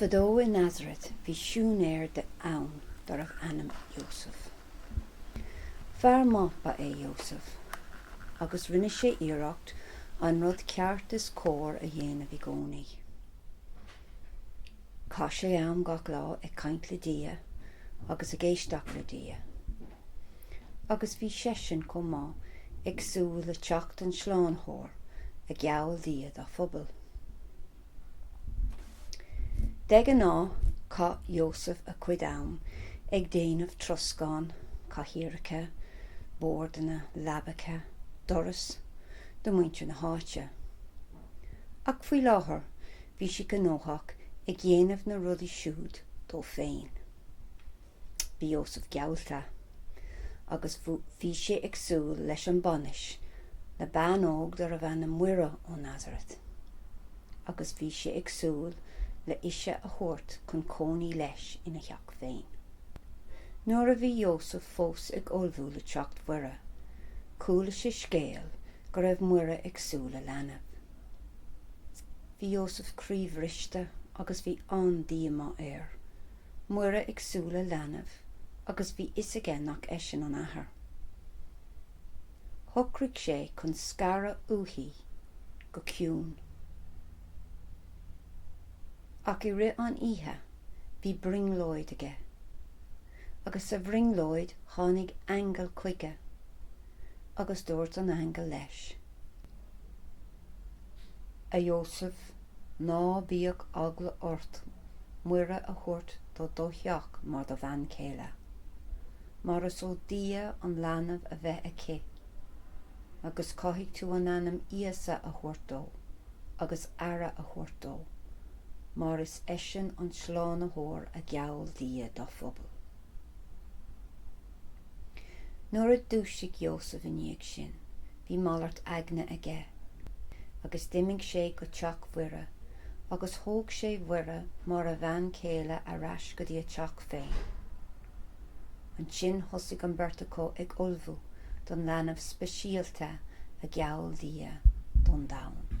Fadó i Nazaret bhí siúinéir ann darbh ainm Iósaf. Fear maith ba ea Iósaf agus rinne sé iarracht an rud ceart is cóir a dhéanamh i gcónaí. Chaith sé am gach lá ag caint le Dia agus ag éisteacht le Dia. Agus bhí seisean chomh maith ag súil le teacht an tSlánaitheoir a gheall Dia dá phobal. De ghnáth, chaith Iósaf a chuid am ag déanamh troscán, cathaoireacha, bordanna, leabacha, doras, do mhuintir na háite. Ach faoi láthair bhí sé gnóthach ag dhéanamh na rudaí siúd dó féin. Bhí Iósaf geallta agus bhí sé ag súil leis an bhainis le bean óg darbh ainm Muire ó Nazaret agus bhí sé ag súil le ise a thabhairt chun cónaí leis ina theach féin. Nuair a bhí Iósaf fós ag ullmhú le teacht Mhuire, chuala sé scéal go raibh Muire ag súil le leanbh. Bhí Iósaf croíbhriste agus bhí an-díomá air. Muire ag súil le leanbh agus bhí fhios aige nach eisean an athair. Shocraigh sé chun scaradh uaithí go ciúin. Ach i rith an oíche bhí brionglóid aige. Agus sa bhrionglóid tháinig aingeal chuige. agus dúirt an aingeal leis, A Iósaf, ná bíodh eagla ort Muire a thabhairt do do theach mar do bhean chéile, mar is ó Dhia an leanbh a bheidh aici, agus caithfidh tú an ainm Íosa a thabhairt dó, agus aire a thabhairt dó, mar is eisean an slánaitheoir a gheall Dia dá phobal. Nuair a dhúisigh Iósaf i ndiaidh sin, bhí malairt aigne aige, agus d'imigh sé go teach Mhuire, agus thóg sé Mhuire mar a bhean chéile ar ais go dtí a teach féin. Ansin thosaigh an bheirt acu ag ullmhú don leanbh speisialta a gheall Dia don domhan.